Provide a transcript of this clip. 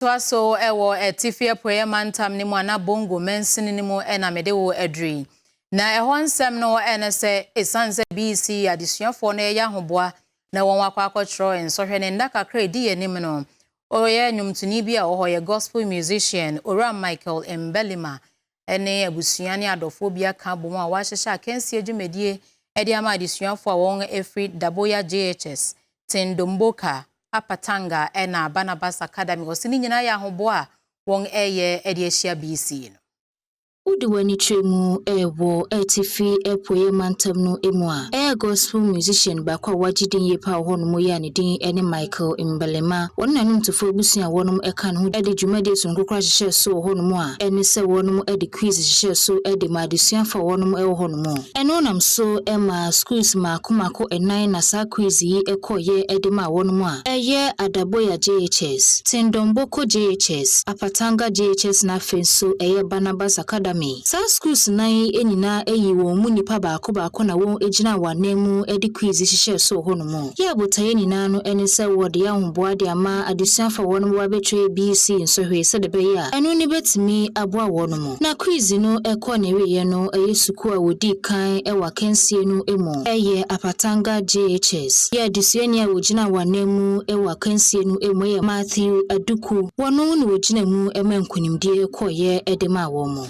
toa so wɔ Atifi Apueɛ Mantam no mu anaa Bongo mansini no mu na mede wo aduru yi. Na ɛhɔ nsɛm no ne sɛ, ɛsiane sɛ BC adesuafoɔ no reyɛ ahoboa na wɔn akɔ akɔtwerɛ nsɔhwɛ no nna kakra a ɛdi yɛn anim no, ɔyɛ nnwomtoni bi a ɔwɔ hɔ, ɔyɛ gospel musician, Owura Michael Mbelima ne abusua ne adɔfoɔ bi aka abom a wɔahyehyɛ akansie dwumadie de ama adesuafoɔ a wɔn firi Daboya JHS, Tindomboka, Upper Tanga ɛna Barnabas Academy. Ɔse ne nyinaa yɛ ahoboa a wɔn ɛyɛ de ahyia BC no. Wode w'ani kyerɛ mu wɔ Atifi Apueɛ Mantam no mu a, ɛyɛ Gospel musician baako a wagye din yie paa wɔ hɔnom yi a ne din ne Michael. Michael Mbalema, wɔne n'anom tufo abusua a wɔnom ɛka ne ho de dwumadie sononko koraa hyehyɛɛ soo hɔ nom a ɛne sɛ wɔnom de quiz hyehyɛɛ so de maa adesuafoɔ a wɔnom ɛwɔ hɔ nom. Ɛno nam so maa schools mmaako mmaako nnan na saa quiz yi kɔ yɛ de maa wɔnom a ɛyɛ Adaboya JHS, Tindonboko JHS, Apatanga JHS na afei nso ɛyɛ Barnabas Academy. Saa schools nnan yi nyinaa yii wɔn mu nnipa baako baako na wɔn gyinaa wɔn anan mu de quiz yi hyehyɛɛ soo hɔ nom. Yɛɛ botaeɛ nyinaa no ne sɛ wɔde ahoboa de ama adesuafo a wɔnom bɛba abɛtwa ABC nsɔhwɛ yi sɛdeɛ ɛbɛyɛ a ɛno no bɛtumi aboa wɔnom. Na kwiizi no kɔɔ n'awieɛ no ɛyɛ sukuu a wɔdii kan wɔ akansie no mu ɛyɛ Apatanga JHS. Yɛn adesuani a ɔgyinaa wɔn anan mu wɔ akansie no mu ɛyɛ Matthew Aduku. Wɔno na ɔgyina mu maa nkunimdie kɔeɛ de maa wɔn.